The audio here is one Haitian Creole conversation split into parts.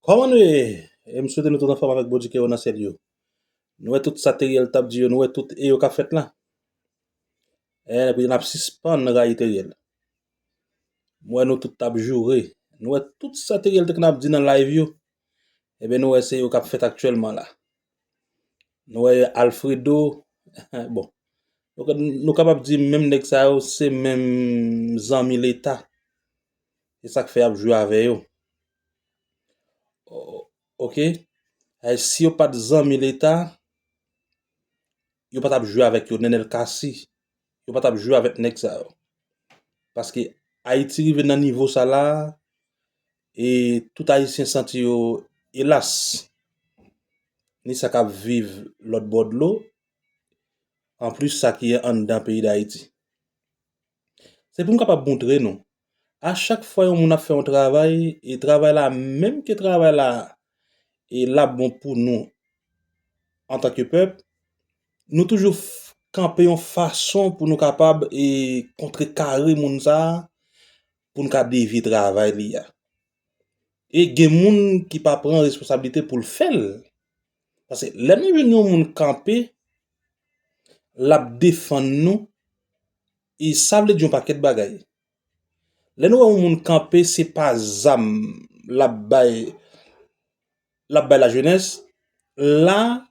Kòman nou ye? E m swete nou tout anfòm avèk Bondye ki anwo nan syèl yo. Nou wè tout sa Teriel tap di yo, nou wè tout e yo kap fèt lan. Eh ebyen nap sispann rayi Teriel. M wè nou tout tap joure, nou wè tout sa Teriel te kna ap di nan live yo, ebyen nou wè se yo kap fèt aktyèlman la. Nou wè Alfredo, bon nou kapab di menm nèg sa yo se menm zanmi leta. Se sak fè yap jwe avè yo. Ok si yo pat zanmi leta yo pa tap jwe avèk yo nenel cassy yo pa tap jwe avèk nèg sa yo paske ayiti rive nan nivo sa la e tout ayisyen santi yo elas ni sa kap viv lòtbò dlo anplis sa ki anndan peyi dayiti Se pou m kapab moutre nou. A chak fwa yon moun ap fè yon travay, e travay la menm ke travay la e l ap bon pou nou antanke pèp, nou toujou kanpe yon fason pou nou kapab e kontre kare moun sa a, pou n ka devye travay li a. E gen moun ki pa pran responsablite pou l fè l. Pase lè nou jwenn yon moun kanpe, l ap defann nou, e sa vle di yon pakèt bagay. Lè nou wè yon moun kanpe, se pa zam l ap bay lajenès, la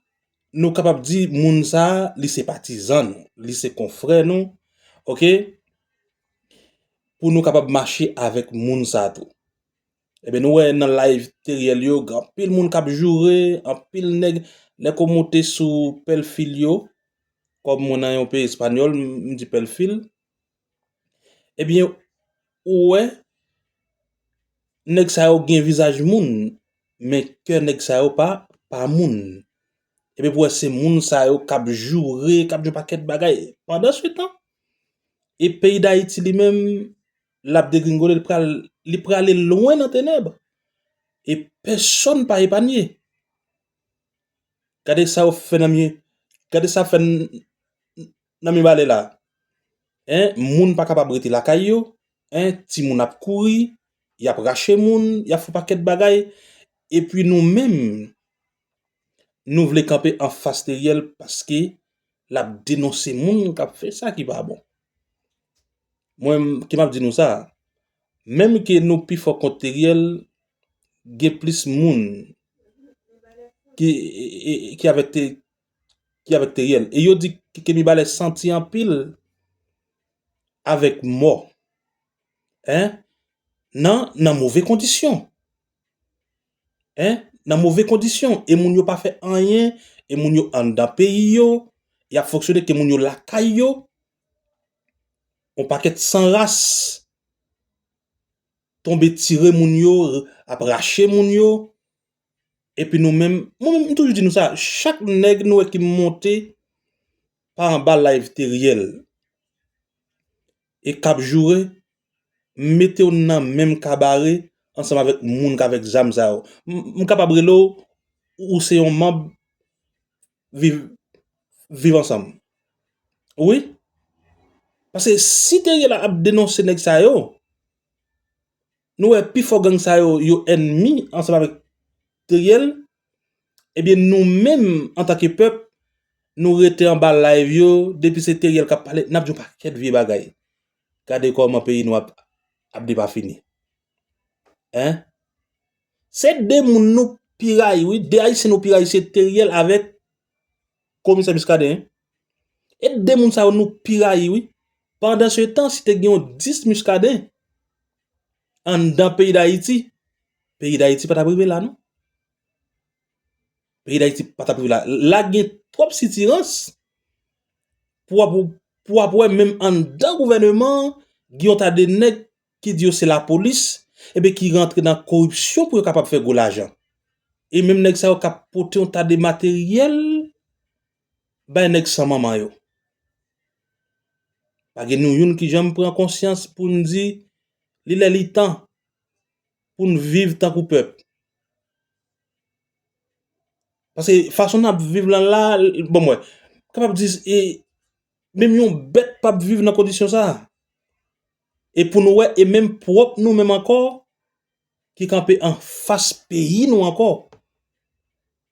nou kapab di moun sa a li se patizan nou, li se konfrè nou, ok, pou nou kapab mache avèk moun sa a tou. Ebyen nou wè nan live Teriel yo gen anpil moun kap joure, anpil nèg lè ko moute sou pèlfil yo, kòm mwen nan yon peyi espanyòl m di pèlfil, ebyen ou wè nèg sa yo gen vizaj moun men kè nèg sa yo pa pa moun. Ebyen pou wè se moun sa yo kap joure, kap di yon pakèt bagay. Pandan se tan e peyi Dayiti li menm l ap degringole, li prale lwen nan tenèb, e pèsòn pa epanye. Gade sa yo fè nan mye, gade sa fè nan Mibalè la, moun pa kapab rete lakay yo, ti moun ap kouri, y ap rache moun, y ap fè pakèt bagay, epi nou menm. Nou vle kanpe anfas Teriel paske lap denonse moun kap fè sa ki pa bon. Mwen ki map di nou sa, menm ke nou pi fò kont Teriel, gen plis moun ki avèk Teriel. E yo di ke Mibalè santi anpil avèk mò. Nan move kondisyon. Hein nan move kondisyon e moun yo pa fè anyen e moun yo anndan peyi yo y ap fonksyone ke moun yo lakay yo yon pakèt san ras tonbe tire moun yo ap rache moun yo epi nou menm mwen menm m toujou di nou sa chak nèg nou wè ki monte pa anba live Teriel e k ap joure m mete w nan menm kabare ansanm avèk moun k avèk zam sa yo. M kapab rele w ou se yon manb viv viv ansanm. Wi. Paske si te ye la ap denonse nèg sa yo, nou wè pi fò gang sa yo yo ènmi ansanm avèk Teriel, ebyen nou menm antanke pèp nou rete anba live yo depi se Teriel k ap pale n ap di yon pakèt vye bagay. Gade koman peyi nou ap ap depafini hein. Se 2 moun nou pi rayi wi, 2 ayisyen nou pi rayi se Theriel avèk komisè Muscadin hein. E 2 moun sa yo nou pi rayi wi. Pandan se tan si te gen yon 10 Muscadin anndan peyi dayiti, peyi dayiti pa tap rive la non. Peyi dayiti pa tap rive la. La gen twòp sitirans pou wap pou wap wè menm anndan gouvèneman an gen yon ta de nèg ki di yo se lapolis epi ki rantre nan koripsyon pou yo kapab fè gwo lajan. E menm nèg sa yo kap pote yon ta de materyèl bay nèg san manman yo. Pa gen nou youn ki janm pran konsyans pou n di li lè li tan. pou n viv tankou pèp. Pase fason nap viv lan la, bon mwen, kapab di, menm yon bèt pap viv nan kondisyon sa. E pou nou wè, e menm pwòp nou menm ankò, ki kanpe an fas peyi nou ankò,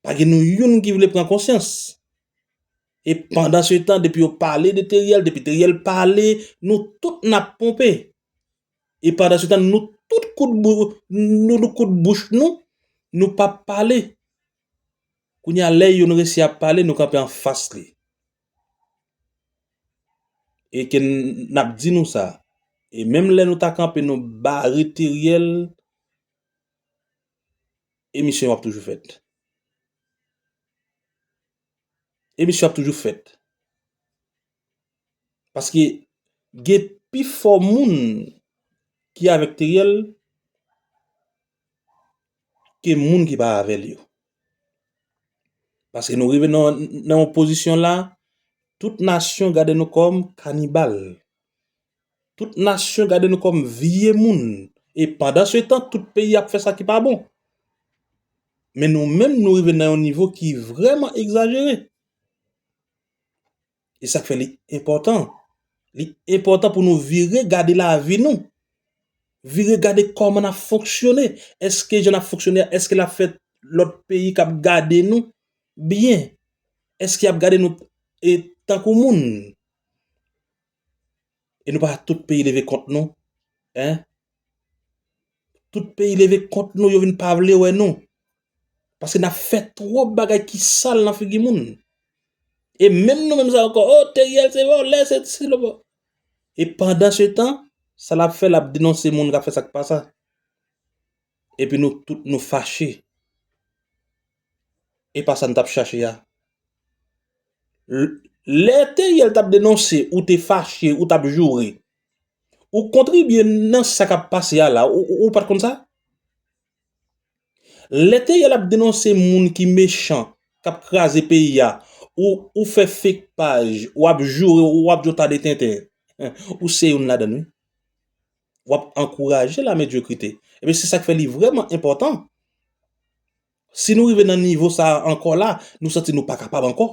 pa gen nou youn ki vle pran konsyans. E pandan se tan, depi yo pale de Teriel, depi Teriel pale, nou tout nap ponpe. E pandan se tan nou tout koud nou koud bouch nou, nou pa pale. Kounye a lè youn resi ap pale nou kanpe anfas li. E ke n ap di nou sa. E menm lè nou ta kanpe nou bare Teriel, emisyon ap toujou fèt. Emisyon ap toujou fèt. Paske gen pi fò moun ki avèk Teriel ke moun ki pa avèl yo. Paske nou rive nan yon pozisyon la, tout nasyon gade nou kòm kanibal. Tout nasyon gade nou kòm vye moun. E pandan se tan, tout peyi ap fè sa ki pa bon. Men nou menm nou rive nan yon nivo ki vreman egzajere. E sak fè li enpòtan, li enpòtan pou nou vire gade lavi nou, vire gade kòman nap fonksyone, eske jan nap fonksyone a eske lap fè lòt peyi kap gade nou byen, eske yap gade nou tankou moun. E nou pa tout peyi leve kont nou hein tout peyi leve kont nou yo vin pa vle wè nou paske nap fè twòp bagay ki sal nan figi moun e menm nou menm sa yo ankò oh Theriel se vòlè se si se lòt e pandan se tan sa lap fè lap denonse moun kap fè sak pa sa. Epi nou tout nou fache. E pa sa n t ap chache a. Lè Theriel t ap denonse ou te fache, ou t ap joure. Ou kontribye nan sa k ap pase a la, ou pa t konn sa? Lè Theriel ap denonse moun ki mechan, k ap kraze peyi a, ou fè fake paj, w ap joure, w ap di w ta de tenten. Ou se youn ladan l wi. w ap ankouraje lamedyokrite. Ebyen, se sa k fè li vrèman enpòtan, si nou rive nan nivo sa a ankò la, nou santi nou pa kapab ankò.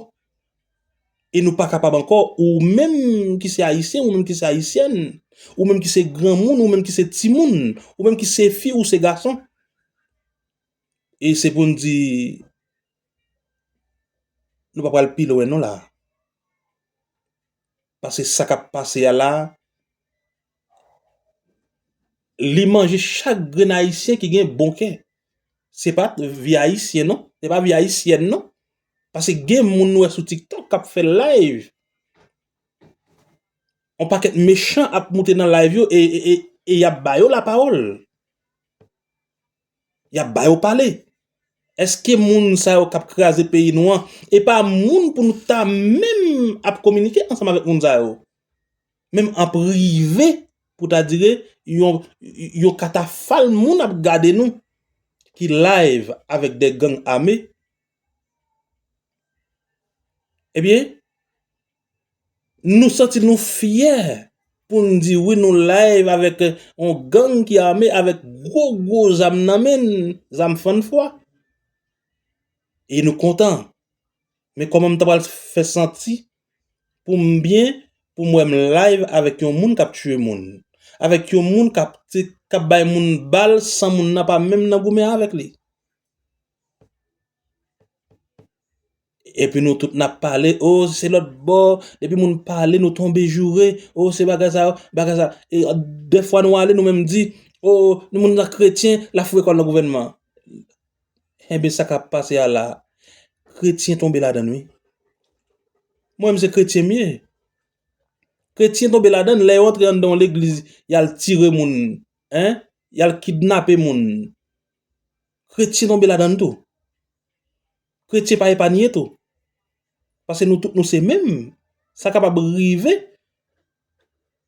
E nou pa kapab ankò, ou menm ki se Ayisyen, ou menm ki se Ayisyèn, ou menm ki se granmoun, ou menm ki se timoun, ou menm ki se fi ou se gason. E se pou n di, nou pa pral pi lwen non la a. Pase sa kap pase a la, li manje chak grenn ayisyen ki gen bon kè. Se pat vi ayisyen non, se pa vi ayisyèn non. Pase gen moun nou wè sou tiktok kap fè layv. On pakèt mechan ap moute nan layv yo e yap ba yo la pawòl. Yap ba yo pale. Eske moun sa yo kap kraze peyi nou an e pa moun pou nou ta menm ap kominike ansanm avèk moun sa yo? Menm an prive pou ta dire yon katafal moun ap gade nou ki live avèk de gang ame. Ebyen. Nou santi nou fyè pou n di wi nou live avèk yon gang ki ame avèk gwo gwo zam nan men, zam fann fwa. E nou kontan. Men kòman m ta pral fè santi pou m byen pou m wè m live avèk yon moun k ap tiye moun. Avèk yon moun k ap bay moun bal san moun nan pa menm nan goumen avèk li. Epi nou tout nap pale oh se lòt bò depi moun pale nou tonbe joure oh se bagay sa oh bagay sa dèfwa nou ale nou menm di oh moun nan kretyen lap foure kòl nan gouvènman enben sa kap pase a la kretyen tonbe ladann wi mwen menm se kretyen m ye kretyen tonbe ladann lè yo antre anndan yon legliz yal tire moun yal kidnape moun Kretyen tonbe ladann tou. Kretyen pa epanye tou. Pase nou tout nou se menm. Sa kapab rive.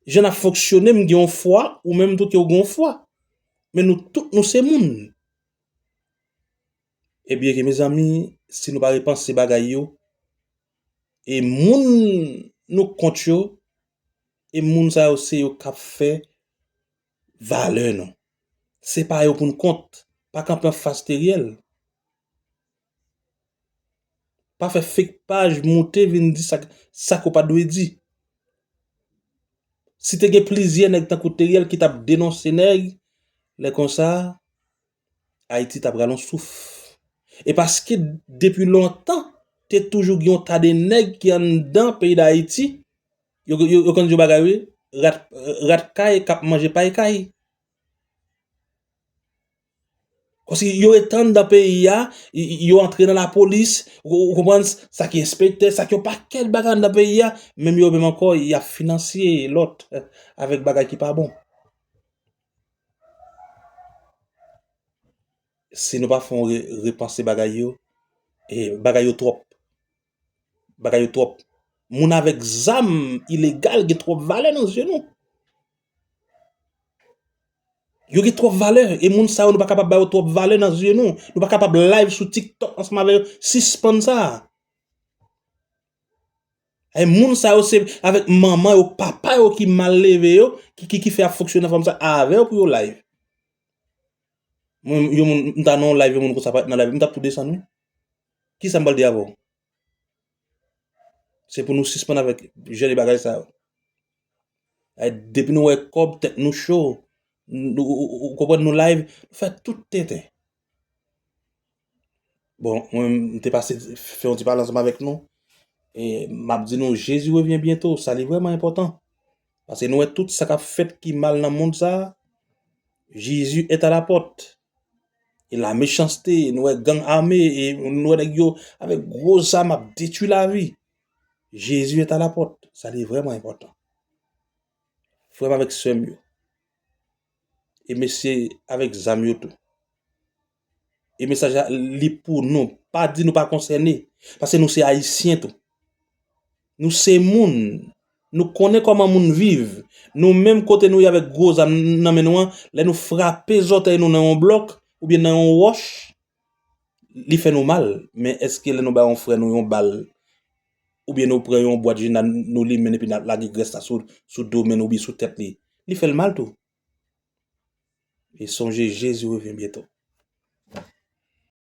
Jan nap fonksyone m gen yon fwa ou menm tou ke ou gen yon fwa. Men nou tout nou se moun. E byen ke mezanmi si nou pa repanse bagay yo. E moun nou kont yo. E moun sa yo se yo kap fè. Valè nou. Se pa yo pou n kont. Pa kanpe an fas Teriel. Pa fè fake paj moute vin di sak ou pa dwe di. Si te gen plizyè nèg tankou Teriel ki tap denonse nèg, lè konsa. Ayiti ta pral on souf. E paske depi lontan, te toujou gen yon ta de nèg ki anndan peyi Dayiti, yo konn di yon bagay wi, rat kay k ap manje pay kay. Kòsi yo rete anndan peyi a, yo antre nan lapolis, ou konprann, sa ki enspektè, sa ki yon pakèt bagay anndan peyi a, menm yo menm ankò y ap finansye lòt avèk bagay ki pa bon. Si nou pa fè yon repanse bagay yo, bagay yo twòp. Bagay yo twòp. Moun avèk zam ilegal gen twòp valè nan zye nou. Yo gen twòp valè. E moun sa yo nou pa kapab ba yo twòp valè nan zye nou. Nou pa kapab live sou TikTok ansanm avè yo. Sispann sa. E moun sa yo se avèk manman yo papa yo ki mal leve yo ki fè ap fonksyone nan fòm sa avèw pou yo live mwen yon moun m ta nan yon live yon moun konsa pat nan live m tap tou desann wi kisa m pral di avèw se pou nou sispann avèk jan de bagay sa yo depi nou wè kòb tèt nou cho ou konprann nou live fè tout tenten. Bon, mwen m te pase fè yon ti pale ansanm avèk nou, e m ap di nou Jezi revyen byento, sa li vrèman enpòtan. Pase nou wè tout sa k ap fèt ki mal nan mond sa a, Jezi est à la porte. E la mechanste, nou wè gang ame, e nou wè nèg yo avèk gwo zam ap detui lavi. Jezi est à la porte, sa li vrèman enpòtan. Frè m avèk sè m yo. E mesye avèk zam yo tou. E mesaj la li pou nou. Pa di nou pa konsène. Pase nou se ayisyen tou. Nou se moun. Nou konnen kòman moun viv. Nou menm kote nou ye avèk gwo zam nan men nou an, lè nou frape zòtèy nou nan yon blòk, oubyen nan yon wòch, li fè nou mal. Men eske lè nou bay yon frè nou yon bal, Oubyen nou pran yon bwat jina nou limen l epi nap lage grès la sou do men nou oubyen sou tèt li. Li fè l mal tou. E sonje Jezi revyen byento.